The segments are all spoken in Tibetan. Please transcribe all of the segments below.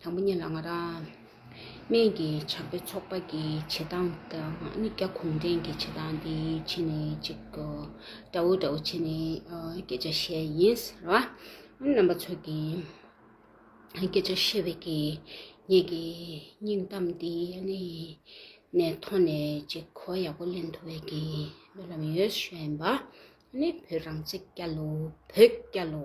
དང་པོ་གཉིས་ལ་ང་རང་སྨད་ཀྱི་བྱམས་པའི་ཚོགས་པ་གི་བྱེད་སྟངས་དང་ནི་རྒྱ་གུང་བྲན་གྱི་བྱེད་སྟངས་དེ་ཕྱི་ནས་ཅིག་འདྲ་བོ་འདྲ་བོ་བྱས་ནས་སྐད་ཆ་བཤད་ཡིན་ཟེར་བ། རྣམ་པ་ཚོ་གི་སྐད་ཆ་བཤད་པའི་གི་ངེད་ཀྱི་སྙིང་གཏམ་དེ་ནི་ནས་མཐོང་ནས་ཅིག་གོ་བ་ཡག་པོ་ལེན་ཐུབ་པའི་གི་རྨི་ལམ་ཡོད་བཞིན་པ། ནི་བོད་རང་བཙན་བསྐྱལ་ལོ་བོད་བསྐྱལ་ལོ།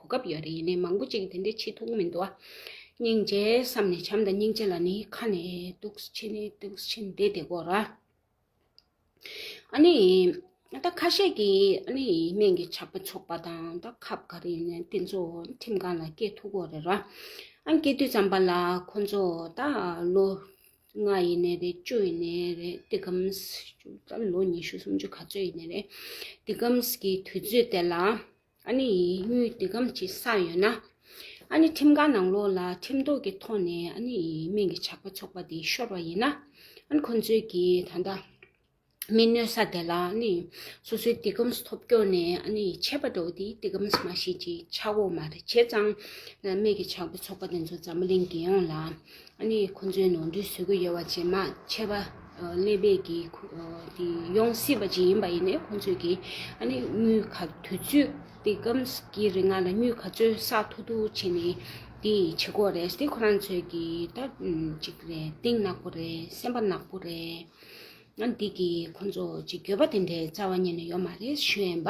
གོ་སྐབས་ཡོད་རེད་ཡིན་ནའི་མང་པོ་ཅིག་གིས་དེ་འདྲའི་ཆེ་ཐུགས་མི་འདུག་ཨ། སྙིང་རྗེ་བསམ་ནས་བྱམས་དང་སྙིང་རྗེ་ལ་ནི་ཁ་ནས་གདུག་ཕྱི་ནས་གདུག་ཕྱི་འདི་བདེ་གོ་ར། ཨ་ནི། ད་ཁ་ཤས་ཀྱིས་ཨ་ནི་སྨན་གྱི་ཆགས་པ་ཆོག་པ་དང་ད་ཁབ་ག་རེ་ཡིན་ནའི་དེ་ཚོ་ཁྲིམས་ཁང་ལ་སྐྱེལ་ཐུག་གོ་རེ་ར། ཨ་སྐྱེལ་དུས་ཙམ་པ་ལ་ཁོ་ཚོ་ད་ལོ་ལྔ་ཡིན་ནའི་རེད་བཅུ་ཡིན་ནའི་རེད་འདི་གམས། ད་ལོ་ཉི་ཤུ་སུམ་ཅུ་ག་ཚོད་ཡིན་ནའི་རེད་འདི་གམས་ཀྱི་དུས་ཚོད་དེ་ལ། ཨ་ནི་ཡིས་དངུལ་འདི་སྒམ་གྱི་ས་ཡོད་ན། ཨ་ནི་ཁྲིམས་ཁང་ནང་ལོག་ལ་ཁྲིམས་ཐོག་གི་ཐོག་ནས་ཨ་ནི་ཡིས་སྨན་གྱི་ཇག་པ་ཚོགས་པ་དེ་ཤོར་བ་ཡིན་ན། ཨ་ནི་ཁོ་ཚོས་ཀྱི་ད་ལྟ་མི་གནོད་ས་དེ་ལ་ཨ་ནི་སོ་སོའི་འདི་སྒམ་ཐོབ་སྐྱོ་ནས་ཨ་ནི་ཡིས་ཆད་པ་འགྲོ་བ་དེ་འདི་སྒམ་མ་ཤེས་ཀྱི་ཆག་འོག་མ་རེད་བྱས་ཙང། སྨན་གྱི་ཇག་པ་ཚོགས་པ་དེ་ཚོ་འཛམ་བུ་གླིང་རྒྱལ་ཡོངས་ལ་ཨ་ནི་ཁོ་ཚོའི་ནོར་འཁྲུལ་བཟོད་དགོས་ཡོད་བ་ཇེ་མང་ཆེ་བ་ཀླད་པས་ཀྱི་ཡོང་སྲིད་པ་ཇི་ཡིན་པ་ཡིན་ནས་ཁོ་ཚོས་ཀྱི་ཨ་ནི་དངུལ་ག་དུས་ཚོད་དེ་སྐམ་གྱི་རིང་ང་ལ་དངུལ་ག་ཚོད་བསགས་ཐུག་ཐུག་བྱེད་ནི་དེ་བྱེད་ཁོ་རེད་དེ་ཁོ་རང་ཚོས་ཀྱི་ད་ཅིག་རེད་གཏིང་ནག་པོ་རེད་སེམས་པ་ནག་པོ་རེད་ཨ་ནི་དེ་གྱིས་ཁོ་ཚོ་ཅིག་འགྱོད་པ་དེ་འདྲའི་རྩ་བ་ཉིད་ནས་ཡོད་མ་རེད་གཞོན་པ།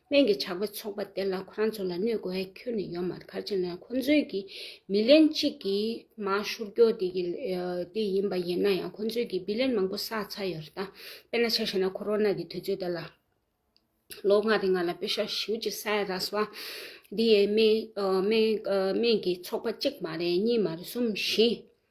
སྨན་གྱི་ཇག་པས་ཚོགས་པ་དེ་ལ་ཁོ་རང་ཚོ་ལ་གནོད་དགོས་ཡ་ཁྱོན་ནས་ཡོད་མ་རེད་གར་བྱེད་ན་ཁོ་ཚོའི་གི་མི་ལན་གཅིག་གི་མ་ཤུར་སྐྱོ་དེ་གི་དེ་ཡིན་པ་ཡིན་ན་ཡང་ཁོ་ཚོའི་གི་བི་ལན་མང་པོ་བསགས་ཚར་ཡོད་རེད་ད་དཔེ་ན་ཆ་བྱས་ན་ཁོ་རོ་ན་གི་དུས་ཚོད་དེ་ལ་ལོ་ལྔ་རེ་ང་ལ་དཔེ་ཤག་ཞིའུ་ཅི་ས་ཡ་ར་སུ་བ་དེ་ཡའི་སྨན་གྱི་ཚོགས་པ་གཅིག་མ་རེད་གཉིས་མ་རེད་གསུམ་བཞི།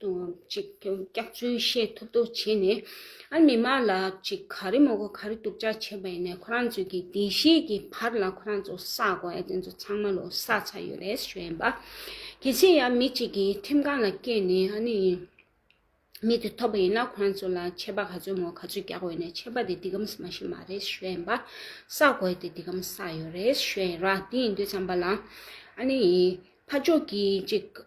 དུ་ཅིག་སྐྱག་རྫུན་བཤད་ཐུབ་ཐུབ་བྱས་ནས་ཨ་མི་མ་ལ་ཅིག་ག་རེ་མོ་གོ་ག་རེ་སྡུག་ཅག་བྱས་པ་ཡིན་ནས་ཁོ་རང་ཚོས་ཀྱི་བདེ་གཤེགས་ཀྱི་བར་ལ་ཁོ་རང་ཚོ་ས་གོ་ཨེ་དེ་ཚོ་ཚང་མ་ལོ་ས་ཚ་ཡོད་རེད་ཞོ་ཡིན་པ། གལ་སྲིད་ཡང་མི་ཅིག་གི་ཁྲིམས་ཁང་ལ་བསྐྱེལ་ནས་ཨ་ནི་མི་དེ་ཐོབ་པ་ཡིན་ན་ཁོ་རང་ཚོ་ལ་ཆད་པ་ག་ཚོད་མོ་ག་ཚོད་རྒྱག་འོས་ནས་ཆད་པ་དེ་འདི་གམ་ས་མ་ཞིག་མ་རེད་ཞོ་ཡིན་པ། ས་གོ་ཨེ་དེ་འདི་གམ་ས་ཡོད་རེད་ཞོ་ཡིན་ར་དེ་ཡིན་དུས་ཚང་པ་ལ་ཨ་ནི་ཕ་ཅོག་གི་ཅིག་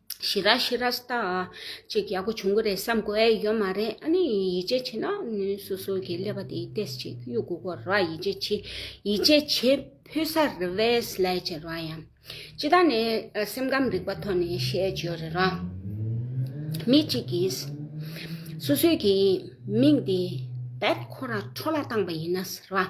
ཤི་ར་ཤི་ར་ཟཏ། ཅིག་ཡག་པོ་བྱུང་གི་རེད་བསམ་དགོས་ཨེ་ཡོད་མ་རེད་ཨ་ནི་ཡིད་ཆེས་ཆེ་ན་ནི་སོ་སོ་གི་ཀླད་པ་དེ་ཏེས་ཅིག་གཡུག་དགོས་གོ་ར་ཡིད་ཆེས་ཆེ་ཡིད་ཆེས་ཆེ་ཕོད་ས་རེད་བས་ལས་བྱེད་ར་ཡང་སྤྱི་ད་ནི་སེམས་ཁམས་རིག་པ་ཐོག་ནས་བཤད་བྱོས་རེད་ར། མི་ཅིག་གིས་སོ་སོའི་གི་མིང་དེ་བད་ཁོ་ར་ཁྲོ་ལ་བཏང་པ་ཡིན་ན་ཟེར་ར།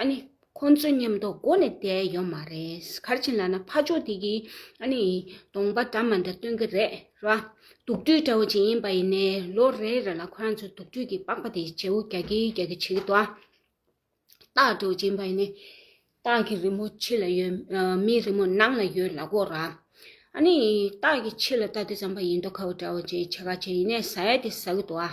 ཨ་ནི། ཁོང་ཚོའི་ཉམས་རྟོགས་སྒོ་ནས་བསྡད་ཡོད་མ་རེད། གར་ཆེན་ལགས་ན་ཕ་ཕྱོགས་དེ་གི་ཨ་ནི། གདོང་པ་འདྲ་མ་འདྲ་སྟོན་གི་རེད་ར། དུག་སྤྲུལ་དགྲ་བོ་ཅིག་ཡིན་པ་ཡིན་ནའི་ལོ་རེ་རེ་ལ་ཁོ་རང་ཚོའི་དུག་སྤྲུལ་གི་པགས་པ་དེ་བྱེའུ་རྒྱག་གི་རྒྱག་གི་བྱེད་གི་འདུག་ཨ། སྟག་གྲོ་ཅན་པ་ཡིན་ནའི། སྟག་གི་རི་མོ་ཕྱི་ལ་ཡོད། མིའི་རི་མོ་ནང་ལ་ཡོད་ལ་གོ་ར། ཨ་ནི། སྟག་གི་ཕྱི་ལ་སྟག་དེ་ཙམ་པ་ཡིན་འདུག་ཁ་བོ་དགྲ་བོ་ཅིག་བྱེ་ཁ་ཆེ་ཡིན་ནའི་ཟ་ཡ་དེ་ཟ་གི་འདུག་ཨ།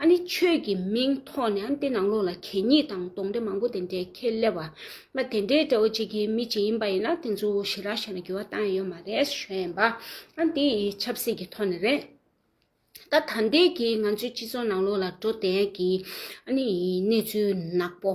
ཨ་ནི་ཆོས་ཀྱི་མིང་ཐོག་ནས་ཨ་ནི་ཏེ་ནང་ལོགས་ལ་གད་སྙིགས་དང་དོང་དྲེད་མང་པོ་དེ་འདྲའི་ཁྱེད་སླེབས་བ་མ་དེ་འདྲའི་དགྲ་བོ་གཅིག་གི་མི་གཅིག་ཡིན་པ་ཡིན་ན་དེ་ཚོ་ཞི་རག་བྱས་ན་འགྱུར་བ་གཏང་ཡས་ཡོད་མ་རེད་ཞོན་ཡན་པ་ཨ་ནི་ཏེ་ཡི་ཆབ་སྲིད་ཀྱི་ཐོག་ནས་རེད། ད་ད་འདས་ཀྱི་ང་ཚོའི་སྤྱི་ཚོགས་ནང་ལོགས་ལ་འགྲོ་དན་གྱི་ཨ་ནི་ཡི་གནས་ཚུལ་ནག་པོ།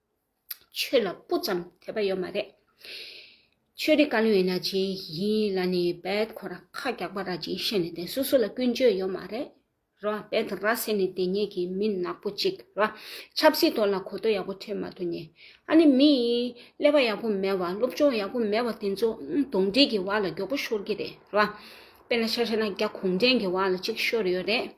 ཆོས་ལ་སྤུ་ཙམ་དད་པ་ཡོད་མ་རེད། ཆོས་རིག་བཀའ་བློན་ཡིན་ན་ཇི་ཡིན་ལ་ནི་བེད་ཁོ་ར་ཁ་རྒྱག་པ་ར་ཇི་བཤད་ནི་དེ་སོ་སོ་ལ་ཀུན་སྤྱོད་ཡོད་མ་རེད། ར་བེད་ར་ཟེར་ནི་དེ་ཉིད་ཀྱི་མི་ནག་པོ་ཅིག་ར་ཆབ་སྲིད་ཐོག་ལ་གོ་ཐོ་ཡག་པོ་ཕྲད་མ་ཐུ་ནི། ཨ་ནི་མི་ཡིས་ཀླད་པ་ཡག་པོ་མེད་བ་སློབ་སྦྱོང་ཡག་པོ་མེད་བ་དེ་ཚོ་གདོང་སྒྲིག་གི་བ་ལ་མགྱོགས་པོ་ཤོར་གྱི་རེད་ར། དཔེ་ན་ཤ་ཤ་ན་རྒྱ་གུང་བྲན་གྱི་བ་ལ་ཅིག་ཤོར་ཡོད་རེད།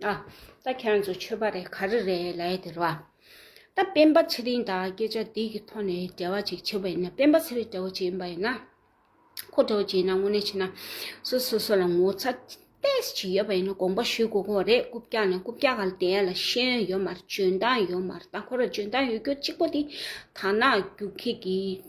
ཨ། ད་ཁྱེད་རང་ཚོ་ཆོས་པ་རེད་ག་རེ་རེད་ལ་ཡི་དེར་བ། ད་སྤེན་པ་ཚེ་རིང་དང་སྐད་ཆ་འདི་གི་ཐོག་ནས་འབྲེལ་བ་ཅིག་བྱེད་པ་ཡིན་ན་སྤེན་པ་ཚེ་རིང་དགྲ་བོ་ཅིག་ཡིན་པ་ཡིན་ན། ཁོ་དགྲ་བོ་ཅིག་ཡིན་ན་དངོས་གནས་བྱས་ན། སུ་སོ་སོ་ལ་ངོ་ཚ་ཏེས་ཅིག་ཡོད་པ་ཡིན་ན་དགོངས་པ་ཞུས་དགོས་ཁོ་རེད་རྐུབ་བཀྱག་ནས་རྐུབ་བཀྱག་ག་ལ་དེ་ཡན་ལ་ཤེས་ཡོན་ཡོད་མ་རེད་འཇོན་ཐང་ཡོད་མ་རེད་ད་ཁོ་ར་འཇོན་ཐང་ཡོད་རྒྱུ་གཅིག་པོ་དེ་དར་ནག་རྒྱུག་ཁྱི་གི་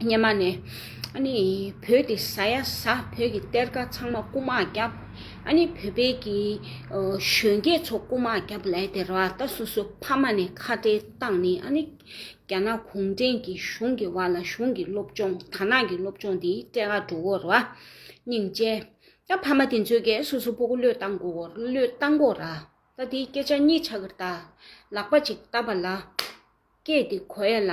སྙེ་མ་ནས། ཨ་ནི། བོད་དེ་ཟ་ཡ་ཟ་བོད་ཀྱི་གཏེར་ཁ་ཚང་མ་རྐུ་མ་རྒྱབ། ཨ་ནི་བོད་པའི་གི། གཞོན་སྐྱེས་ཚོ་རྐུ་མ་རྒྱབ་ལས་དེ་ར་ད་སོ་སོ་ཕ་མ་ནས་ཁ་བྲལ་བཏང་ནི་ཨ་ནི། རྒྱ་ནག་གུང་ཁྲན་གྱི་གཞུང་གི་བར་ལ་གཞུང་གི་སློབ་སྦྱོང་དར་ནག་གི་སློབ་སྦྱོང་དེ་སྤྲད་ཁ་འགྲོ་འོ་ར། སྙིང་རྗེ། ད་ཕ་མ་དེ་ཚོའི་སྐད་སོ་སོ་པོ་གོ་བློས་བཏང་གོ་བློས་བཏང་གོ་ར། ད་དེའི་སྐད་ཆ་གཉིས་ཆ་གིར་ད། ལག་པ་ཅིག་བཏབ་པ་ལ། སྐད་དེ་གོ་ཡ་ལ།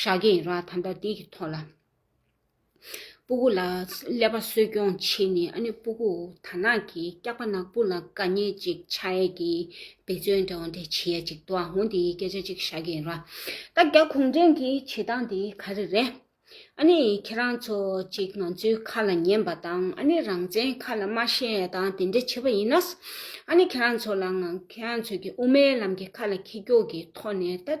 ཤ་རྒྱན་ར་དམ་པ་འདི་གི་ཐོག་ལ་སྤུ་གུ་ལ་ཀླད་པ་གསོད་སྐྱོང་བྱེད་ནས་ཨ་ནུ་སྤུ་གུ་དར་ནག་གི་སྐྱག་པ་ནག་པོ་ལ་དཀའ་ཉེ་ཅིག་ཆགས་ཡས་ཀྱི་འབད་བརྩོན་འདྲ་བོ་འདི་བྱེད་ཡས་ཅིག་འདུག་ཨ་ཧོ་འདིའི་སྐད་ཆ་གཅིག་ཤ་རྒྱན་ར་ད་རྒྱ་གུང་བྲན་གྱི་བྱེད་སྟངས་འདི་ག་རེ་རེད་ཨ་ནི་ཁྱེད་རང་ཚོ་ཅིག་ང་ཚོའི་ཁ་ལ་ཉན་པ་དང་ཨ་ནི་རང་བཙན་ཁ་ལ་མ་ཤེས་ཡས་དང་དེ་འདྲ་བྱེད་པ་ཡིན་ནས་ཨ་ནི་ཁྱེད་རང་ཚོ་ལ་ང་ཁྱེད་རང་ཚོ་གི་དབུ་མའི་ལམ་གྱི་ཁ་ལ་ཁྱི་སྐྱོག་གི་ཐོག་ནས་ད།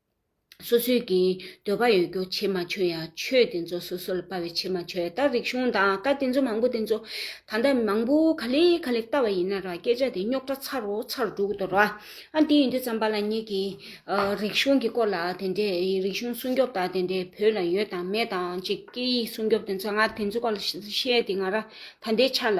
སོ་སོའི་གི་འདོད་པ་ཡོད་རྒྱུ་ཕྱེ་མ་ཆོད་ཡང་ཆོས་དེ་ཚོ་སོ་སོ་ལ་དཔའ་བས་ཕྱེ་མ་ཆོད་ཡ་ད་རིག་གཞུང་དང་བཀའ་དེ་ཚོ་མང་པོ་དེ་ཚོ་ད་ལྟ་མང་པོ་ག་ལེ་ག་ལེ་བལྟ་བ་ཡིན་ན་ར་སྐད་ཆ་དེ་རྙོག་དྲ་ཚར་རོ་ཚར་འགྲོ་གི་འདུག་ར་ཨ་དེ་ཡིན་དུས་ཙམ་པ་ལ་ཉིད་ཀྱི་རིག་གཞུང་གི་སྐོར་ལ་དེ་འདྲས་རིག་གཞུང་སྲུང་སྐྱོབ་དང་དེ་འདྲས་བོད་ལ་ཡོད་དང་མེད་དང་ཅིག་སྐད་ཡིག་སྲུང་སྐྱོབ་དེ་ཚོ་ང་དེ་ཚོ་སྐོར་ལ་བཤད་དེ་ང་ར་ད་འདྲས་ཆ་ལ།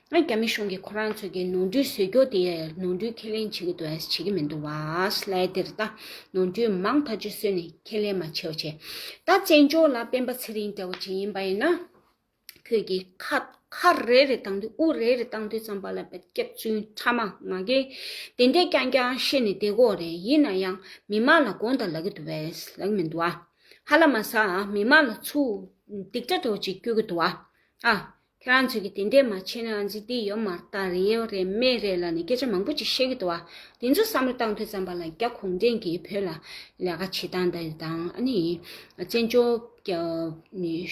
རྒྱ་མི་གཞུང་གིས་ཁོ་རང་ཚོས་ཀྱི་ནོར་འཁྲུལ་བཟོས་རྒྱུ་དེ་ནོར་འཁྲུལ་ཁས་ལེན་བྱེད་ཀྱི་འདུག་བས་བྱེད་ཀྱི་མི་འདུག་བས་ལས་དེར་ད་ནོར་འཁྲུལ་མང་ཐག་ཆོད་བཟོས་ནས་ཁས་ལེན་མ་བྱས་བ་བྱས། ད་བཙན་བྱོལ་ལ་སྤེན་པ་ཚེ་རིང་འདྲ་བོ་བྱེད་ཡིན་པ་ཡིན་ན། ཁྱོད་ཀྱིས་ཁ་ཁ་རེ་རེ་བཏང་དུས་དབུ་རེ་རེ་བཏང་དུས་ཙམ་པ་ལ་བད་སྐྱབས་བཙུན་ཕྲ་མ་ང་རྒན་དེ་འདྲས་ཀྱང་ཀྱང་བཤད་ནས་བསྡད་དགོས་རེད་ཡིན་ན་ཡང་མི་མང་ལ་དགོངས་དག་ལག་གི་འདུག་བས་ལག་མི་འདུག་ཨ། ཧ་ལ་མ་ཟ་ཨ་མི་མང་ལ་ཚུར་སྡིག་སྒྲ་དྲོ་ཅིག་སྐྱོ་གི་འདུག་ཨ། ཁྱེད་རང་ཚོས་ཀྱི་དེ་འདྲས་མ་བྱས་ནའང་འཇིག་རྟེན་ཡོད་མ་ད་རེད་ཡོད་རེད་མེད་རེད་ལ་ནི་སྐད་ཆ་མང་པོ་ཅིག་བཤད་ཀྱི་འདུག་བ་དེ་ཚོ་བསམ་བློ་བཏང་ཐོས་བསམ་པ་ལ་རྒྱ་གུང་བྲན་གྱིས་བོད་ལ་ལས་ཀ་བྱེད་སྟངས་དེ་དང་ཨ་ནི་བཙན་བྱོལ་གྱི་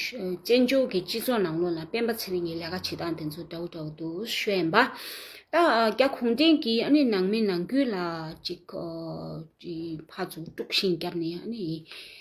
སྤྱི་ཚོགས་ནང་ལོགས་ལ་སྤེན་པ་ཚེ་རིང་གིས་ལས་ཀ་བྱེད་སྟངས་དེ་ཚོ་འདྲ་བོ་འདྲ་བོ་འདུག་ཤོད་ཡན་པ། ད་རྒྱ་གུང་བྲན་གྱིས་ཨ་ནི་ནང་མི་ནང་ཁུལ་ལ་ཅིག་ཕར་ཚུར་དཀྲུགས་ཤིང་བརྒྱབ་ནས་ཨ་ནི།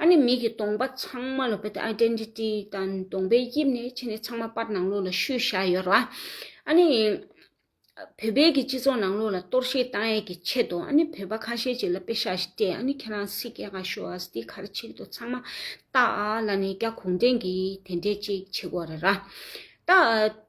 ཨ་ནི་མིག་གི་སྟོང་པ་ཚང་མ་ལ་བལྟ་སྟེ Identity དང་སྟོང་པའི་དབྱིབས་ནི་ཕྱི་ནས་ཚང་མ་པར་ནང་ལོགས་ལ་ཤུལ་བཞག་ཡོད་ར་བ། ཨ་ནི། བོད་པའི་གི་སྤྱི་ཚོགས་ནང་ལོགས་ལ་གཏོར་བཤིག་བཏང་ཡས་གི་ཆེད་དུ་ཨ་ནི་བོད་པ་ཁ་ཤས་ཅིག་ལ་པེ་ཤ་ཞིག་སྤྲད་ཨ་ནི་ཁྱེད་རང་སི་ཀེ་ག་ཤོ་ཨ་སི་གར་ཆིག་ཏུ་ཚང་མ་བཏགས་ཨ་ལ་ནི་རྒྱ་གུང་ཁྲན་གི་དེ་འདྲས་ཅིག་བྱེད་དགོས་རེད་ར། ད།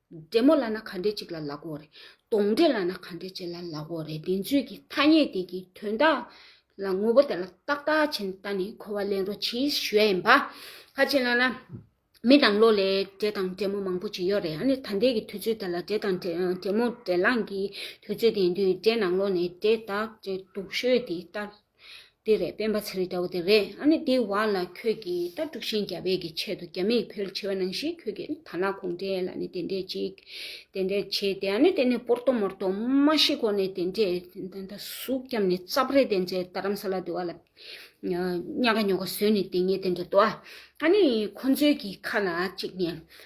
འབྲས་མོ་ལ་ན་ག་འདྲེ་གཅིག་ལ་ལ་གོ་རེ། དོང་འདྲེ་ལ་ན་ག་འདྲེ་གཅིག་ལ་ལ་གོ་རེ་དེ་ཚོད་ཀྱི་ཐ་སྙད་དེ་གི་དོན་དག་ལ་ངོ་བོ་དེ་ལ་བརྟག་བརྟག་བྱེད་ནས་ད་ནི་གོ་བ་ལེན་རོགས་གྱིས་ཞུ་ཡ་ཡིན་པ། ཁ་ཅིག་ལ་ན་མི་དང་ལོ་ལས་འདྲེ་དང་འདྲེ་མོ་མང་པོ་གཅིག་ཡོད་རེ་ཨ་ནི་ད་འདས་ཀྱི་དུས་ཚོད་དེ་ལ་འདྲེ་དང་འདྲེ་མོ་འདྲེ་ལངས་ཀྱི་དུས་ཚོད་དེ་ཡིན་དུས་འདྲེ་ནང་ལོག་ནས་འདྲེ་དག་འདྲེ་དུག་ཤོས་དེ་ལྟར། དེ་རེད་སྤེན་པ་ཚེ་རིང་སྐྱ་བོ་དེ་རེད་ཨ་ནི་དེ་བ་ལ་ཁྱོད་ཀྱིས་ལྟ་དཀྲུག་ཤིང་རྒྱ་བལ་གྱི་ཆེད་དུ་རྒྱ་མིས་ཕེལ་ཆེ་བ་ནང་བཞིན་ཁྱོད་ཀྱིས་ད་ལ་གུང་བྲན་ལ་ནི་དེ་འདྲས་ཅིག་དེ་འདྲས་བྱས་ཏེ་ཨ་ནི་དེ་ནི་པོར་ཏོ་མོར་ཏོ་མ་ཤི་གོ་ནི་དེ་འདྲས་ད་ད་གཟུགས་སྐྱམ་ནི་ཙབ་རེད་དེ་འདྲས་རྡ་རམ་ས་ལ་དེ་བ་ལ་སྙ་ག་ཉོ་ག་ཟོས་ནི་དེ་ཉིད་དེ་འདྲས་དོ་ཨ་ནི་ཁོ་ཚོའི་གི་ཁ་ལ་ཅིག་ནས་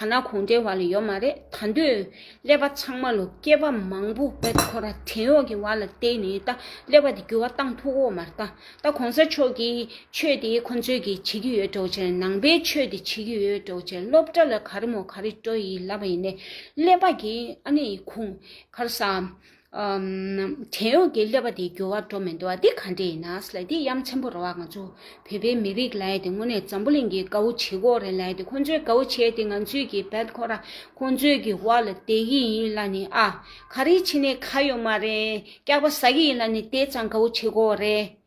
ཐ་ན་གོང་འདྲའི་བར་ལ་ཡོད་མ་རེད་ད་འདོད། ཀླད་པ་ཚང་མ་ལོ་སྐྱེས་པ་མང་པོ་དཔལ་ཁོ་ར་བྲན་གཡོག་གི་བར་ལ་བསྟེན་ནས་ད་ཀླད་པ་དེ་འགྱུར་བ་བཏང་ཐུག་འོ་མ་རྟ། ད་གོང་ས་མཆོག་གི་ཆོས་དེ་ཁོ་ཚོས་གི་བྱེད་ཀྱི་ཡོད་གྲོགས་ཆེར་ནང་པའི་ཆོས་དེ་བྱེད་ཀྱི་ཡོད་གྲོགས་ཆེར་སློབ་གྲྭ་ལ་ག་རེ་མོ་ག་རེ་སྤྲོ་ཡི་ལབ་པ་ཡིན་ནས་ཀླད་པ་གི་ཨ་ནི་ཁུང་ཁར་ས། བྲན་གཡོག་གི་ཀླད་པ་དེ་འགྱུར་བ་འགྲོ་མི་འདུག་ཨ་འདི་ག་འདྲས་ཡིན་ནའ་སླད་དེ་ཡམ་ཆེན་པོ་རོ་ཨ་ང་ཚོ་བོད་པའི་མི་རིགས་ལའེ་དེ་དངོས་གནས་འཛམ་བུ་གླིང་གི་དགའ་བོ་བྱེད་ཁོག་རེད་ལའེ་དེ་ཁོ་ཚོའི་དགའ་བོ་བྱས་དེ་ང་ཚོས་ཀྱི་བད་ཁོ་ར་ཁོ་ཚོའི་གི་བ་ལ་དེད་གི་ཡིན་ལ་ནི་ཨ་ག་རི་ཕྱི་ནས་ཁ་ཡོད་མ་རེད་སྐྱག་པ་ཟ་གི་ཡིན་ལ་ནི་དེད་ཙང་དགའ་བོ་བྱེད་ཁོག་རེད།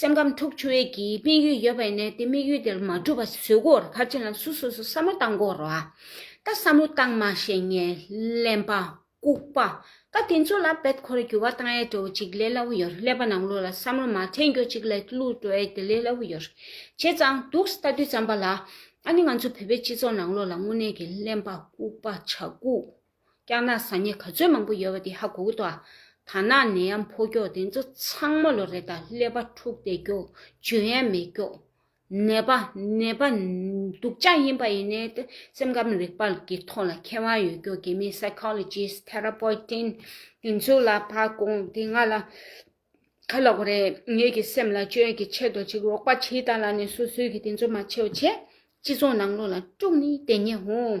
སེམས་ཁམས་འཁྲུག་ཆུ་བས་ཀྱི་དམིགས་ཡུལ་ཡོད་པ་ཡིན་ནའི་དེ་དམིགས་ཡུལ་དེར་མ་འགྲུབ་པ་བཟོད་དགོར་ཕར་ཕྱིན་ལམ་སུ་སོ་སོ་བསམ་བློ་བཏང་དགོར་བ། ད་བསམ་བློ་བཏང་མ་བྱས་ངན་གླེན་པ། ལྐུགས་པ། ཀ་དེ་ཚོ་ལ་བེད་ཁོ་རེ་གྱུར་བ་དང་ཡལ་འགྲོ་བ་ཅིག་ལས་སླ་བོ་ཡོད་ཀླད་པ་ནང་བླུགས་ལ་བསམ་བློ་མ་འཐེན་རྒྱུ་ཅིག་ལས་བླུགས་འགྲོ་ཡས་དེ་ལས་སླ་བོ་ཡོད། བྱས་ཙང་སྡུག་ས་ལྟ་དུས་བརྩམས་པ་ལ། ཨ་ནི་ང་ཚོ་བོད་པའི་སྤྱི་ཚོགས་ནང་བློ་ལ་དངོས་གནས་ཀྱི་གླེན་པ་ལྐུགས་པ་ཆགས་ལྐུགས། སྐྱག་ནག་ཟ་ཉེ་ག་ཚོད་མང་པོ་ཡོད་པ་དེ་ཧ་གོ་གི་འདུག་ད་ནག་ནད་ཡམས་ཕོ་སྐྱོགས་དེ་ཚོ་ཚང་མ་ལོ་རེ་དང་ཀླད་པ་འཁྲུག་བསྡད་སྐྱོགས་འཇོན་ཡ་མེད་སྐྱོགས་ནད་པ་ནད་པ་སྡུག་ཅག་ཡིན་པ་ཡིན་ནའི་ཏེ་སེམས་ཁམས་རིག་པ་ཀྱི་ཐོག་ལ་མཁས་དབང་ཡོད་སྐྱོགས་དགེ་མི Psychologist Therapoitin དེ་ཚོ་ལ་ཕ་གོང་དེ་ང་ལ་ཁ་ལོག་རེད་ངེད་ཀྱི་སེམས་ལ་བཅོས་ཀྱི་ཆེད་དུ་ཅིག་རོགས་པ་བྱེད་ད་ལ་ནས་སོ་སོའི་གི་དེ་ཚོ་མ་བྱེད་བྱས་སྤྱི་ཚོགས་ནང་ལོག་ལ་དཀྲུག་ནི་དེ་ཉེ་འོང།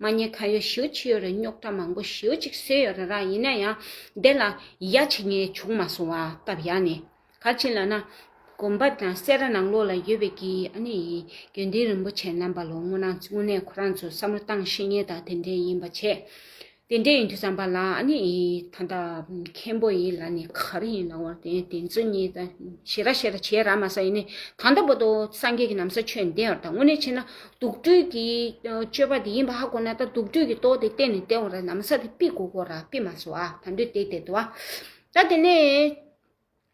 མ་ཉེས་ཁ་ཡོད་ཞུ་ཅི་ཡོད་རེད་རྙོག་དྲ་མང་པོ་ཞུ་ཅིག་བསོད་ཡོད་རེད་ར་ཡིན་ན་ཡང་དེ་ལ་ཡ་བྱེད་ངས་བྱུང་མ་སོང་བ་སྟབས་ཡག་ནས་ག་ཅིག་ལ་ན་གོམ་པ་དང་བསེ་ར་ནང་ལོག་ལ་ཡོད་པའི་གི་ཨ་ནི་ཡིན་དགེ་འདུན་རིན་པོ་ཆེ་རྣམ་པ་ལོ་དངོས་ནང་དངོས་གནས་ཁོ་རང་ཚོས་བསམ་བློ་བཏང་ཤེས་ངེས་དང་དེ་འདྲའི་ཡིན་པ་བྱས། དེ་འདྲ་ཡིན་དུས་བསམ་པ་ལ་ནི་ད་ལྟ་མཁན་པོ་ཡིན་ལ་ནི་ག་རེ་ཡིན་ནའོ་དེ་དེ་ཚོ་གཉིས་ད་བྱེད་ར་བྱེད་ར་བྱེད་ར་མ་ས་ཡིན་ནི་ད་ལྟ་བོ་ཏོ་སངས་རྒྱས་ཀྱི་ནམ་ས་ཆོད་འདི་ཨར་ད་དངོས་གནས་བྱེད་ན་དུག་སྦྲུལ་གྱི་སྤྱོད་པ་དེ་ཡིན་པ་ཧ་གོ་ན་ད་དུག་སྦྲུལ་གྱི་ཏོག་དེ་བསྟན་ནས་བསྟན་འོང་ར་ནམ་ས་དེ་པི་གོ་གོ་ར་པི་མ་སོ་ཨ་ད་འདོད་དེ་དེ་ཏོ་ཨ་ད་དེ་ནས།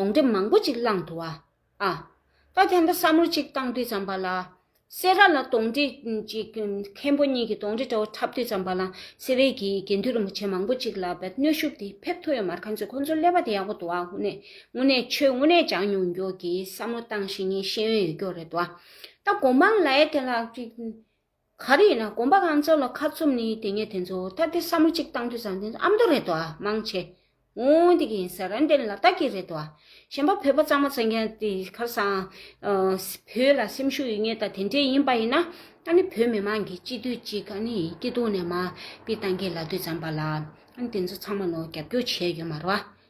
གདོང་འདྲེ་མང་པོ་ཅིག་བླངས་འདུག་ཨ། ཨཱ། ད་ཐེངས་ད་ས་མུར་ཅིག་བཏང་དུས་ཙམ་པ་ལ། སེ་ར་ལ་གདོང་འདྲེ་ཅིག་མཁན་པོ་གཉིས་ཀྱི་གདོང་འདྲེ་འདྲ་བོ་འཁྲབ་དུས་ཙམ་པ་ལ་སེ་རའི་གི་དགེ་འདུན་རིན་པོ་ཆེ་མང་པོ་ཅིག་ལ་བའི་གནོད་ཤུགས་དེ་ཕེབས་ཐུབ་ཡོད་མར་ཁ་མཆུ་ཁོ་ཚོ་ཀླད་པ་དེ་ཡག་པོ་འདུག་ཨ་ཧུ་ནེ། དངོས་གནས་ཁྱོད་དངོས་གནས་ཅང་མྱོང་རྒྱུགས་ཀྱི་ས་མུར་བཏང་ཤེས་ངེས་ཤེས་ཡོན་ཡོད་རྒྱུགས་རེད་འདུག་ཨ། ད་གོ་འབངས་ལའེ་དེ་ལ་ཅིག། ག་རེ་ཡིན་ན་གོམ་པ་གང་འཚོལ་ལ་ཁ་ཚུམས་ནི་དེ་ངས་དེ་ཚོ་ད་ལྟའི་བསམ་བློ་གཅིག་བཏང་དུས་བཟང་དེ་ཚོ་ཨ་མདོ་རེད་དོ་ཨ་མང་ཆེ། འོང་དེ་གི་ཡིན་ས་རན་དེ་ལ་དྭགས་ཀྱི་རེད་དོ་ཨ། གཞན་པ་བོད་པ་གཙང་མ་ཚང་གི་ཨ་དེ་ཁར་སང། བོད་ལ་སེམས་ཤུགས་ཡོད་ངེས་ད་དེ་འདྲས་ཡིན་པ་ཡིན་ན་ཨ་ནི་བོད་མི་མང་གི་སྤྱི་འཐུས་གཅིག་ཨ་ནི་སྐྱིད་སྡུག་ནས་མ་དཔེ་བཏང་གི་ལ་དུས་བརྩམས་པ་ལ་ཨ་ནི་དེ་ཚོ་ཚང་མ་ལོ་རྒྱབ་སྐྱོར་བྱས་ཡོད་མ་རོ་ཨ།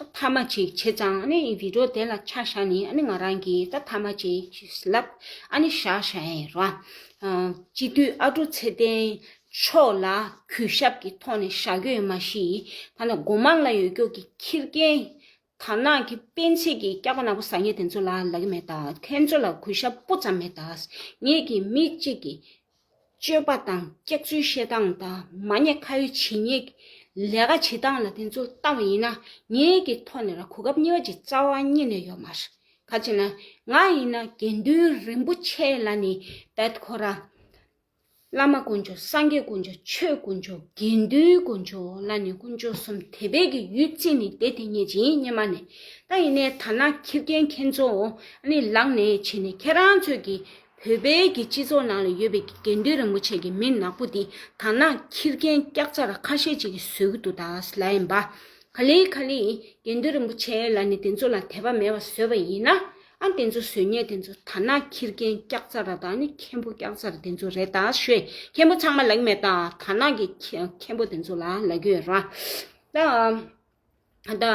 ད་ཐ་མ་ཅིག་བྱས་ཙང་ཨ་ནི་བི་ཏྲོ་དེ་ལ་ཆ་བཞག་ནས་ཨ་ནི་ང་རང་གིས་ད་ཐ་མ་ཅིག་ལབ་ཨ་ནི་བཞག་ཤེས་ཨེ་རོ། སྤྱི་འཐུས་ཨ་ཀྲུག་ཚེ་བརྟན་མཆོག་ལ་གུས་ཞབས་ཀྱི་ཐོག་ནས་བཞག་རྒྱུ་ཡོད་མ་གཞི་ད་ནི་སྒོ་མང་ལ་ཡོད་སྐྱོགས་ཀྱི་ཁྱི་རྒན་དར་ནག་གི་སྤེན་ཚེས་ཀྱི་སྐྱག་པ་ནག་པོ་ཟ་ཉེ་དེ་ཚོ་ལ་ལ་གི་མེད་ད་ཁྱེད་ཚོ་ལ་གུས་ཞབས་སྤུ་ཙམ་མེད་ད་ངེད་ཀྱི་མི་གཅིག་གི་སྤྱོད་པ་དང་སྐྱག་རྫུན་བཤད་སྟངས་དང་མ་ཉེས་ཁ་ཡོད་བྱས་ཉེས་ལས་ཀ་བྱེད་སྟངས་ལ་དེ་ཚོ་ལྟ་བ་ཡིན་ན་ངའི་གི་ཐོག་ནས་ར་གོ་སྐབས་གཉིས་པ་ཅིག་རྩ་བ་རྙེད་ནས་ཡོད་མ་རེད་ག་ཅེ་ན་ང་ཡིན་ན་དགེ་འདུན་རིན་པོ་ཆེ་ལ་ནི་བད་ཁོ་ར། བླ་མ་དཀོན་མཆོག་སངས་རྒྱས་དཀོན་མཆོག་ཆོས་དཀོན་མཆོག་དགེ་འདུན་དཀོན་མཆོག་ལ་ནི་དཀོན་མཆོག་གསུམ་དེ་བད་ཀྱི་ཡུལ་བཙན་ནི་དེ་དེ་ཉེས་ཅིང་རྙེད་མ་ནས་ད་ཡིན་ནས་ད་ན་ཁྱི་རྒན་ཁྱེད་ཚོ་ཨ་ནི་ལག་ནས་བྱེད་ནས་ཁྱེད་རང་ཚོས་ཀྱི་བོད་པའི་གི་སྤྱི་ཚོགས་ནང་ལ་ཡོད་པའི་གི་དགེ་འདུན་རིན་པོ་ཆེ་གི་མི་ནག་པོ་དེ་དར་ནག་ཁྱིར་རྒན་སྐྱག་ཆ་ར་ཁ་ཤས་ཅིག་གི་ཟོལ་གི་འདུག་ད་ལ་ཡིན་པ། ག་ལི་ག་ལི་ཡིན་དགེ་འདུན་རིན་པོ་ཆེ་ལ་ནི་དེ་ཚོ་ལ་དད་པ་མེད་པ་ཟོས་པ་ཡིན་ན་ཨ་དེ་ཚོ་ཟོལ་ཉེས་དེ་ཚོ་དར་ནག་ཁྱིར་རྒན་སྐྱག་ཆ་ར་དང་ནི་མཁན་པོ་སྐྱག་ཆ་ར་དེ་ཚོ་རེད་ད་ཤོད་མཁན་པོ་ཚང་མ་ལ་གི་མེད་ད་དར་ནག་གི་མཁན་པོ་དེ་ཚོ་ལ་ལ་གི་ཡོད་ར་ད།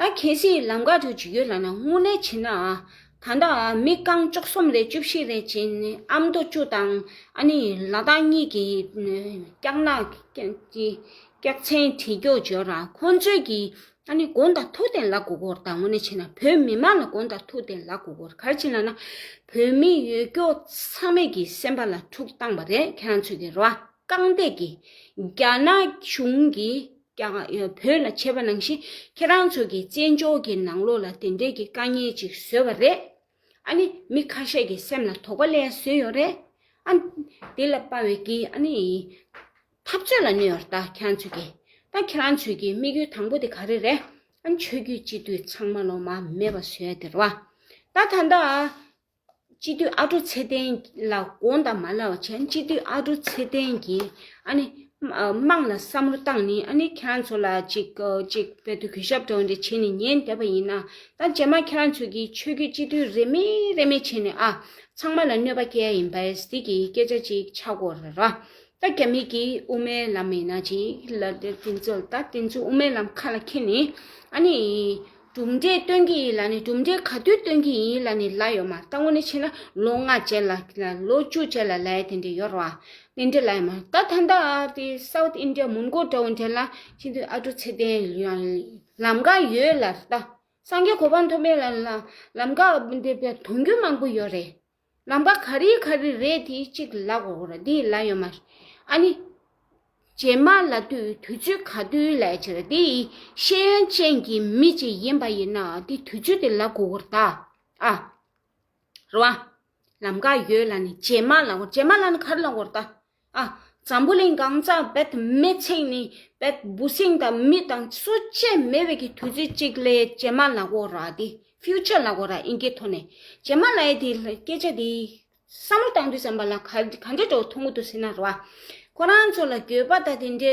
ད་གལ་སྲིད་ལམ་ཁ་དུ་འཇུག་ཡུལ་ལ་ན་སྔོན་ལས་བྱེད་ན། ད་ལྟ་མི་རྐང་བཅུ་གསུམ་ལས་བཅུ་བཞི་རེ་བྱས་ནས་ཨ་མདོ་བཅུ་དང་ཨ་ནི་ལ་དྭགས་གཉིས་ཀྱི་སྐྱག་ནག་སྐྱག་ཚན་བྲིས་སྐྱོག་བྱོས་ར་ཁོ་ཚོས་ཀྱི་ཨ་ནི་དགོན་དང་ཐུག་ཏེ་ལ་གུ་གུར་ད་ངོ་ནས་བྱེད་ན་བོད་མི་མང་ལ་དགོན་དང་ཐུག་ཏེ་ལ་གུ་གུར་གར་བྱེད་ན་ན་བོད་མི་ཡོད་སྐྱོ་ཚང་མེད་ཀྱི་སེམས་པ་ལ་འཁྲུག་བཏང་བ་རེད་ཁྱེད་རང་ཚོས་ཀྱི་ར་རྐང་སྟེགས་ཀྱི་རྒྱ་ནག་གཞུང་གི་ཀྱང་ཡོད་བོད་ལ་བྱས་པ་ནང་བཞིན་ཁྱེད་རང་ཚོ་གི་བཙན་བྱོལ་གྱི་ནང་ལོག་ལ་དེ་འདྲས་ཀྱི་དཀའ་ངལ་ཅིག་བཟོས་པ་རེད་ཨ་ནི་མི་ཁ་ཤས་ཀྱི་སེམས་ལ་དོགས་པ་ལན་བཟོས་ཡོད་རེད་ཨ་ནི་དེ་ལ་དཔའ་བའི་གི་ཨ་ནི་འཐབ་རྩོད་ལ་གནས་ཡོད་ད་ཁྱེད་རང་ཚོས་ཀྱི་ད་ཁྱེད་རང་ཚོས་ཀྱི་དམིགས་ཡུལ་དང་པོ་དེ་ག་རེ་རེད་ཨ་ནི་ཆོས་རྒྱུད་སྤྱི་འཐུས་ཚང་མ་ལོ་མ་མེད་པ་བཟོས་ཡོད་དེ་རེད་བ་ད་ད་ད་སྤྱི་འཐུས་ཨ་ཀྲོ་ཚེ་བརྟན་ལ་དགོངས་དག་མ་ལགས་བྱས་ན་སྤྱི་འཐུས་ཨ་ཀྲོ་ཚེ་བརྟན་གྱིས་ཨ་ནི་དམངས་ལ་བསམ་བློ་བཏང་ནས་ཨ་ནི་ཁྱེད་རང་ཚོ་ལ་ཅིག་ཅིག་བོད་དུ་གུས་ཞབས་དོགས་འདྲི་བྱས་ནས་ཉན་བསྡད་པ་ཡིན་ན་ད་རྗེས་མ་ཁྱེད་རང་ཚོས་ཀྱིས་ཆོས་བརྒྱུད་སྤྱི་འཐུས་རེ་མེད་རེ་མེད་བྱས་ནས་ཨ་ཚང་མ་ལ་གནོད་པ་བསྐྱལ་ཡིན་པས་ཟིག་གིས་སྐད་ཆ་ཅིག་ཆ་གོ་ར་ར། ད་རྒྱ་མིག་གིས་དབུ་མའི་ལམ་མེད་ན་ཅིག་ལ་དེ་ཚོ་ད་དེ་ཚོ་དབུ་མའི་ལམ་ཁ་ལ་འཁྱེར་ནས་ཨ་ནི། གྲུབ་འབྲས་སྟོན་གྱི་ཡིན་ལ་ནི་གྲུབ་འབྲས་ག་དུས་སྟོན་གྱི་ཡིན་ལ་ནི་ལ་ཡོད་མ་ལྟ་ངོ་ནི་ཕྱིན་ན་ལོ་ལྔ་བྱས་ལ་ལོ་བཅུ་བྱས་ལ་ལའི་དེ་འདྲའི་ཡོར་བ་དེ་འདྲའི་ལ་ཡོད་མ་ད་ད་ལྟ་དེ South India མོན་གོ་འདྲ་བོ་འདྲ་ལ་ཕྱིན་དུས་ཨ་དྲུག་ཚེ་བརྟན་ཡང་ལམ་ཀ་ཡོད་ལ་ལྟ་སངས་རྒྱས་གོ་འཕང་མཐོ་དཔལ་ལམ་ཀ་འདི་དོན་རྒྱུ་མང་པོ་ཡོད་རེད་ལམ་ཀ་ག་རེ་ག་རེ་རེད་དེ་གཅིག་ལ་གོ་རོགས་འདི་ལ་ཡོད་མ་ཨ་ནི། རྗེས་མ་ལ་དུས་དུས་ཚོད་ག་དུས་ལས་ཕྱིར་དེ་ཡི་ཤེས་ཡོན་ཅན་གྱི་མི་ཅིག་ཡིན་པ་ཡིན་ན་དེ་དུས་ཚོད་དེ་ལ་གོ་རོགས་ད་ཨ་རོ། ལམ་ཀ་ཡོད་ལ་ནི་རྗེས་མ་ལ་གོ་རྗེས་མ་ལ་ནི་ག་རེ་ལ་གོ་རོགས་ད། ཨ། འཛམ་བུ་གླིང་གང་ས་བེད་མེད་ཚིག་ནི་བེད་འབུ་སྲིང་དང་མི་དང་གསོ་བྱེད་མེ་བེད་ཀྱི་དུས་ཚོད་གཅིག་ལས་ཇེ་མ་ལ་གོ་ར་དེ Future ལ་གོ་ར་ཨིན་སྐད་ཐོ་ནས་ཇེ་མ་ལ་ཡེ་དེ་སྐད་ཆ་དེ་བསམ་བློ་གཏང་དུས་བསམ་པ་ལ་ག་ག་འདྲ་འགྲོ་ཐུང་ངུ་འདུག་ཟེར་ན་ར་བ་ཁོ་རང་ཚོ་ལ་འགྱོད་པ་དང་དེ་འདྲའི།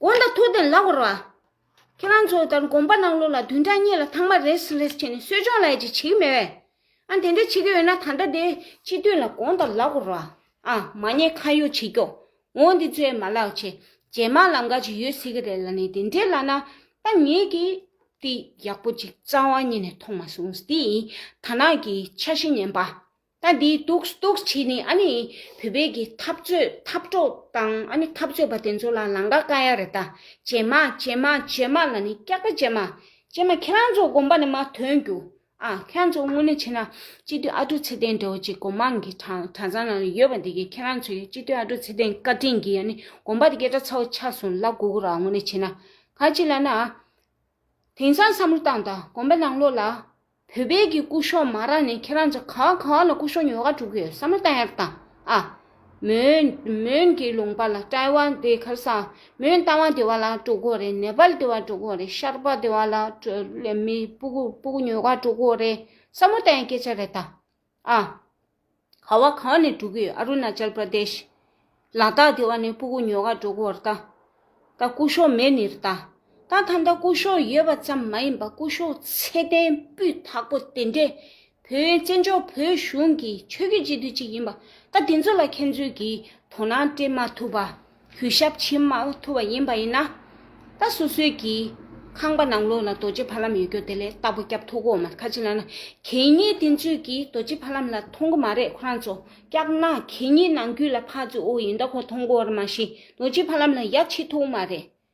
དགོངས་དག་ཐུགས་བདེ་ལགས་བར་བ། ཁྱེད་རང་ཚོ་ལྟར་དགོངས་པ་གནང་ལུགས་ལ་དུས་འདྲ་གཉིས་ལ་ཐང་མ་རེས་རེས་བྱས་ནས་གསོལ་སྦྱོང་ལས་ཅི་བྱེད་ཀྱི་མེད་བས། ཨ་དེ་འདྲ་བྱེད་ཀྱི་ཡོད་ན་ད་ལྟ་དེ་སྤྱི་འཐུས་ལ་དགོངས་དག་ལགས་བར་བ། ཨ་མ་ངས་ཁ་ཡོག་བྱེད་ཀྱོ་འོ་འདི་ཚོའི་མ་ལགས་ཆེ་རྗེས་མ་ལ་འགའ་ཅིག་ཡོད་སྲིད་ཀྱི་རེད་ལ་ནི་དེ་འདྲའི་ལ་ན་ད་ངས་ཀྱིས་འདི་ཡག་པོ་ཅིག་རྩ་བ་ཉིད་ནས་མཐོང་མ་སོང་འདི་ཡིན་ཐ་ན་གྱིས་ཆ་ཤེས་ཉན་པ། ད་འདི་གཏུགས་གཏུགས་བྱས་ནས་ཨ་ནི་བོད་པའི་གི་འཐབ་རྩོད་འཐབ་གྲོགས་དང་ཨ་ནི་འཐབ་རྩོད་པ་དེ་ཚོ་ལ་ལང་ཀ་བཀའ་ཡག་རེད་ད་བྱེ་མ་བྱེ་མ་བྱེ་མ་ལ་ནི་སྐྱག་པ་བྱེ་མ་བྱེ་མ་ཁྱེད་རང་ཚོ་དགོངས་པ་ནི་མ་ཐོན་རྒྱུ་ཨ་ཁྱེད་རང་ཚོ་དངོས་གནས་བྱེ་ན་སྤྱི་མཐུས་ཨ་ཀྲུག་ཚེ་བརྟན་འདྲ་བོ་ཅིག་གོ་མང་གི་གྲ་ཚང་ནང་ཡོད་པ་འདི་གི་ཁྱེད་རང་ཚོ་ཡི་སྤྱི་མཐུས་ཨ་ཀྲུག་ཚེ་བརྟན་བཀའ་དྲིན་གི་ཨ་ནི་དགོངས་པ་དེ་གས་གྲ་ཚ་བོ་ཆགས་སོང་ལ་གུ་གུ་ར་དངོས་གནས་བྱེ་ན་ག་ཅིག་ལ་ན་ཨ་དེང་སང་བསམ་བློ་བཏང་ད་དགོངས་པ་ནང་ལོགས་ལ་བོད་པའི་གི་སྐུ་ཤོག་མ་རག་ནས་ཁྱེད་རང་ཚོ་ག་ག་ལ་སྐུ་ཤོག་ཉོ་ག་དྲུག་གི་ཡོད་ས་མ་ཏའི་རྟ་ཨ། མོན་མོན་གི་ལུང་པ་ལ་ཏའི་བ་དེ་གར་ས་མོན་ཏའི་བ་དེ་བ་ལ་དྲུག་གོ་རེད་ནེ་པལ་དེ་བ་དྲུག་གོ་རེད་ཤར་པ་དེ་བ་ལ་མི་སྤུ་གུ་སྤུ་གུ་ཉོ་ག་དྲུག་གོ་རེད་ས་མོ་ཏའི་སྐད་ཆ་རེད་ད། ཨ། ཁ་བ་གང་ནས་འགྲོ་གི་ཡོད་ཨ་རུ་ན་ཅལ་པྲ་དེཤ། ལ་དྭགས་དེ་བ་ནས་སྤུ་གུ་ཉོ་ག་འགྲོ་གི་ཨོ་ར་ཏ། ད་སྐུ་གཞོག་མེད་ནི་ར་ཏ། ད་ད་མདའ་སྐུ་གཞོག་ཡོད་པ་ཙམ་མ་ཡིན་པ་སྐུ་གཞོག་ཚད་ལྡན་སྤུས་དག་པོ་དེ་འདྲས་བོད་བཙན་བྱོལ་བོད་གཞུང་གི་ཆོས་རྒྱུད་སྤྱི་འཐུས་གཅིག་ཡིན་པ་ད་དེ་ཚོ་ལ་ཁྱེད་ཚོས་གིས་དོ་སྣང་སྤྲད་མ་ཐུབ་པ། གུས་ཞབས་ཕྱི་མ་ཐུབ་པ་ཡིན་པ་ཡིན་ན། ད་སོ་སོའི་གི། ཁང་པ་ནང་ལོགས་ན་རྡོ་རྗེ་ཕ་ལམ་ཡོད་རྒྱུ་དེ་ལས་རྟ་ཕོ་སྐྱབས་ཐོག་གོ་མ་ཁ་ཅིག་ལ་ན་གད་སྙིགས་དེ་ཚོས་གི་རྡོ་རྗེ་ཕ་ལམ་ལ་མཐོང་གི་མ་རེད་ཁོ་རང་ཚོ་སྐྱག་ན་གད་སྙིགས་ནང་རྒྱུད་ལ་ཕ་ཚོས་ཨོ་ཡིན་ད་ཁོ་མཐོང་གོ་ར་མ་ཤི་རྡོ་རྗེ་ཕ་ལམ་ལ་ཡ་ཕྱི་ཐོག་མ་རེད།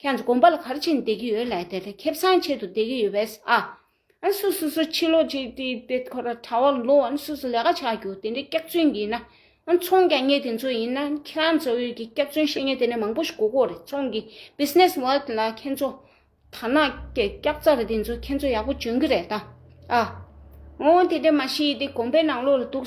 ཁྱེད་ཚོ་གོམ་པ་ལ་གར་ཕྱིན་བསྡད་ཀྱི་ཡོད་ལས་དེ་ལས་ཁེབས་སངས་ཆེད་དུ་བསྡད་ཀྱི་ཡོད་པས་ཨ། ཨ་སུ་སུ་སུ་ཕྱི་ལོགས་ཀྱི་དེའི་དེ་ཁོ་ར་ཁྲ་བ་ལོ་ཨ་སུ་སུ་ལས་ཀ་ཆགས་རྒྱུ་དེ་འདྲའི་སྐྱག་རྫུན་གྱིས་ན་ཨ་ཚོང་རྒྱག་ངེས་དེ་ཚོ་ཡིན་ན་ཁྱེད་རང་ཚོ་འོས་ཀྱི་སྐྱག་རྫུན་བཤད་ངེས་དེ་ནས་མང་པོ་ཞིག་གོ་གོ་རེད་ཚོང་གི Business World ལ་ཁྱེད་ཚོ་དར་ནག་གི་སྐྱག་རྫ་རེད་དེ་ཚོ་ཁྱེད་ཚོ་ཡག་པོ་འཇོན་གྱི་རེད་ད་ཨ། ཨོ་དེ་འདྲས་མ་ཤེས་དེ་གོམ་པའི་ནང་ལོགས་ལ་འདུག་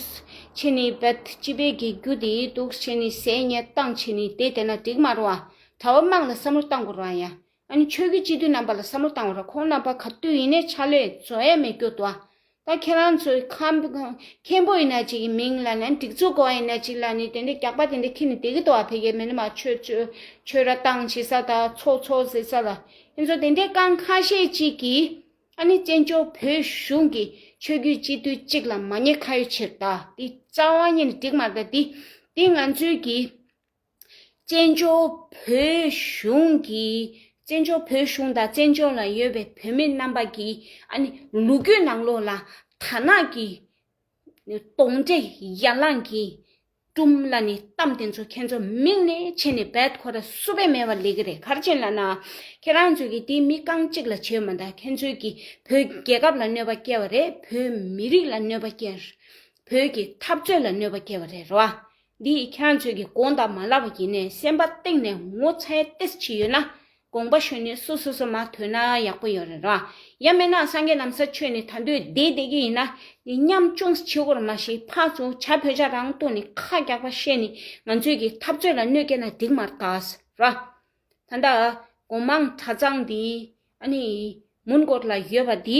ཕྱི་ནས་བེད་སྤྱི་པའི་དགེ་རྒྱུ་དེའི་འདུག་ཕྱི་ནས་ཟས་ཉལ་སྟངས་ཕྱི་ནས་དེ་དེ་ན་འགྲིག་མ་རུ་ཨ་གྲྭ་བ་དམངས་ལ་བསམ་བློ་གཏང་དགོས་ར་ཡ། ཨ་ནི་ཆོས་ཀྱི་སྤྱི་འཐུས་རྣམ་པ་ལ་བསམ་བློ་གཏང་བ་ར་ཁོང་རྣམ་པ་ག་དུས་ཡིན་ནས་ཆ་ལོས་བཟོ་ཡ་མི་དགོས་དོ། ད་ཁྱེད་རང་ཚོའི་ཁམ་བུ་མཁན་པོ་ཡིན་ན་ཅིག་གི་མིང་ལ་ནི་སྒྲིག་འཛུགས་དགོ་བ་ཡིན་ན་ཅིག་ལ་ནི་དེ་འདྲའི་རྒྱག་པ་དེ་འདྲ་ཁྱེད་ནི་བདེ་གི་དོ་བ་ཕེ་གའི་མི་ནི་མ་ཆོས་ཆོས་ཆོས་ར་གཏང་བྱེད་ས་ད་ཚོགས་ཚོགས་ཟེར་ས་ལ་ཨིན་ཚོ་དེ་འདྲའི་རྐང་ཁ་ཤས་ཅིག་གི་ཨ་ནི་བཙན་བྱོལ་བོད་གཞུང་གི་ཆོས་རྒྱུད་སྤྱི་འཐུས་ཅིག་ལ་མ་ཉེས་ཁ་ཡོད་ཕྱིར་ད་དེ་རྩ་བ་ཉིད་ནས་འགྲིག་མ་ར་ད་དེ་དེ་ང་ཚོའི་གི། བཙན་བྱོལ་བོད་གཞུང་གིས་བཙན་བྱོལ་བོད་གཞུང་དང་བཙན་བྱོལ་ལ་ཡོད་པའི་བོད་མི་རྣམ་པ་ཀྱིས་ཨ་ནི་ལུ་གུ་ནང་ལོགས་ལ་དར་ནག་གི་དོང་དྲེད་ཡར་ལངས་ཀྱིས་བཀྲུམ་ལ་ནི་གཏམ་དེ་ཚོ་ཁྱེད་ཚོ་མིག་ནས་ཕྱེ་ནས་བད་ཁོ་ར་བསུ་བས་མེད་པ་ལས་ཀི་རེད་གར་ཆེན་ལ་ནག་ཁྱེད་རང་ཚོས་ཀྱི་དེ་མི་རྐང་གཅིག་ལ་བྱེད་མ་ད་ཁྱེད་ཚོས་ཀྱི་བོད་རྒྱལ་ཁབ་ལ་གནོད་པ་སྐྱེལ་བ་རེད་བོད་མི་རིགས་ལ་གནོད་པ་སྐྱེལ་བོད་ཀྱི་འཐབ་རྩོད་ལ་གནོད་པ་སྐྱེལ་བ་རེད་རོ། འདི་ཡིས་ཁྱད་ཚོས་ཀྱི་དགོངས་དག་མ་ལགས་པ་ཡིན་ནས་སེམས་པ་གཏིང་ནས་ངོ་ཚའི་ཏེས་ཅི་ཡོད་ན་དགོངས་པ་ཞུ་ནས་སུ་སོ་སོ་མ་ཐོས་ན་ཡག་པོ་ཡོད་རེད་རོ། ཡང་མིན་ན་སངས་རྒྱས་ནམ་ས་ཆོས་ནི་ད་འདོད་བདེ་བདེ་གི་ཡིན་ན་ནི་སྙམ་ཅུང་ཟད་ཕྱི་གོར་མ་ཞིག་འཕགས་ཚུ་བྱ་བོད་བྱ་རང་ལྟོས་ནི་ཁ་རྒྱག་པ་བཤད་ནི་ང་ཚོས་ཀྱི་འཐབ་རྩོད་ལ་གནོད་སྐྱེལ་ན་འགྲིག་མ་རྟགས་རོ། ད་ལྟ་དགོངས་མང་གྲྭ་ཚང་འདི་ཨ་ནི་མུན་སྐོར་ལ་ཡོད་པ་འདི་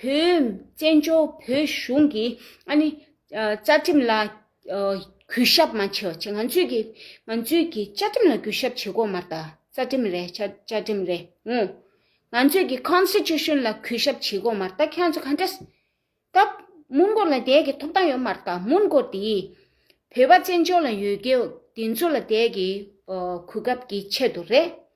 བོད་བཙན་བྱོལ་བོད་གཞུང་གི་ཨ་ནི་བཅའ་ཁྲིམས་ལ་གུས་ཞབས་མ་བྱེད་བྱེད་ང་ཚོས་ཀྱི་ང་ཚོས་ཀྱི་བཅའ་ཁྲིམས་ལ་གུས་ཞབས་བྱེད་དགོས་མ་རེད་རྩ་ཁྲིམས་རེད་བཅའ་ཁྲིམས་རེད་ངོ། ང་ཚོས་ཀྱི Constitution ལ་གུས་ཞབས་བྱེད་དགོས་མ་རེད་ཁྱེད་ཚོ་ག་འདྲ། ད་མུན་གོར་ལ་བསྡད་ཀྱི་ཐོབ་ཐང་ཡོད་མ་རེད་མུན་གོར་དེ་བོད་པ་བཙན་བྱོལ་ལ་ཡོད་ཀྱི་དེ་ཚོ་ལ་བསྡད་ཀྱི་གུས་སྐབས་ཀྱི་ཆེད་དུ་རེད།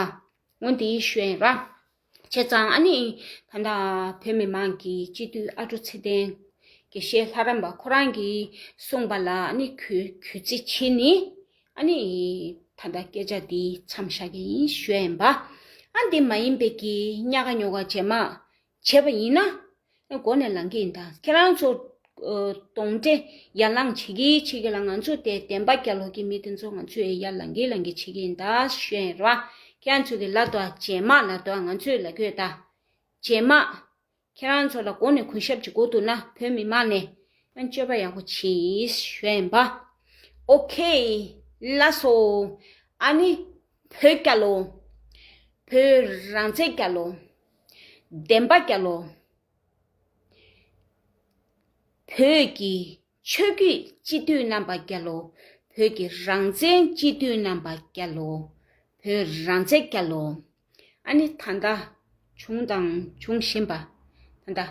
ཨ། ངོ་འདི་གཞོན་ར། བྱས་ཙང་ཨ་ནི། ད་ལྟ་བོད་མི་མང་གི་སྤྱི་འཐུས་ཨ་ཀྲུ་ཚེ་བརྟན། དགེ་བཤེས་ལྷ་རམས་པ་ཁོ་རང་གིས་གསུངས་པ་ལ་ཨ་ནི་གུས་བརྩི་བྱེད་ནི། ཨ་ནི། ད་ལྟ་སྐད་ཆ་འདི་མཚམས་བཞག་གི་ཡིན་གཞོན་པ། ཨ་འདི་མ་ཡིན་པའི་གི་རྙ་ག་ཉོ་ག་བྱེད་མ། བྱས་པ་ཡིན་ན། མགོ་ནས་ལངས་ཀྱི་ཡིན་ད། ཁྱེད་རང་ཚོ། གདོང་འདྲེ། ཡར་ལངས་བྱེད་ཀྱི་བྱེད་ཀྱི་ལ་ང་ཚོ་སྟེ་བདེན་པ་རྒྱ་ལོག་གི་མི་དེ་ཚོ་ང་ཚོས་ཡར་ལངས་ཀྱི་ལངས་ཀྱི་བྱེད་ཀྱི་ཡིན་ད་ཤོད་ཡིན་ར་བ། ཁྱེད་རང་ཚོ་གི་ལ་དོ་རྗེས་མ་ལ་དོ་ང་ཚོས་ལ་གྱོད་ད། རྗེས་མ། ཁྱེད་རང་ཚོ་ལ་མགོ་ནས་གུས་ཞབས་ཀྱི་མགོ་འདུག་ན་བོད་མི་མང་ནས། སྤྱོད་པ་ཡག་པོ་བྱེད་ཤོད་ཡིན་པ། ཨོ་ཁེ། ལ་སོ། ཨ་ནི། བོད་སྐྱ་ལོ། བོད་རང་བཙན་སྐྱ་ལོ། བདེན་པ་སྐྱ་ལོ། བོད་ཀྱི་ཆོས་བརྒྱུད་སྤྱི་འཐུས་རྣམ་པ་སྐྱ་ལོ། བོད་ཀྱི་རང་བཙན་སྤྱི་འཐུས་རྣམ་པ་སྐྱ་ལོ། བོད་རང་བཙན་སྐྱ་ལོ། ཨ་ནི་ད་ལྟ་བྱུང་དང་འབྱུང་བཞིན་པ། ད་ལྟ།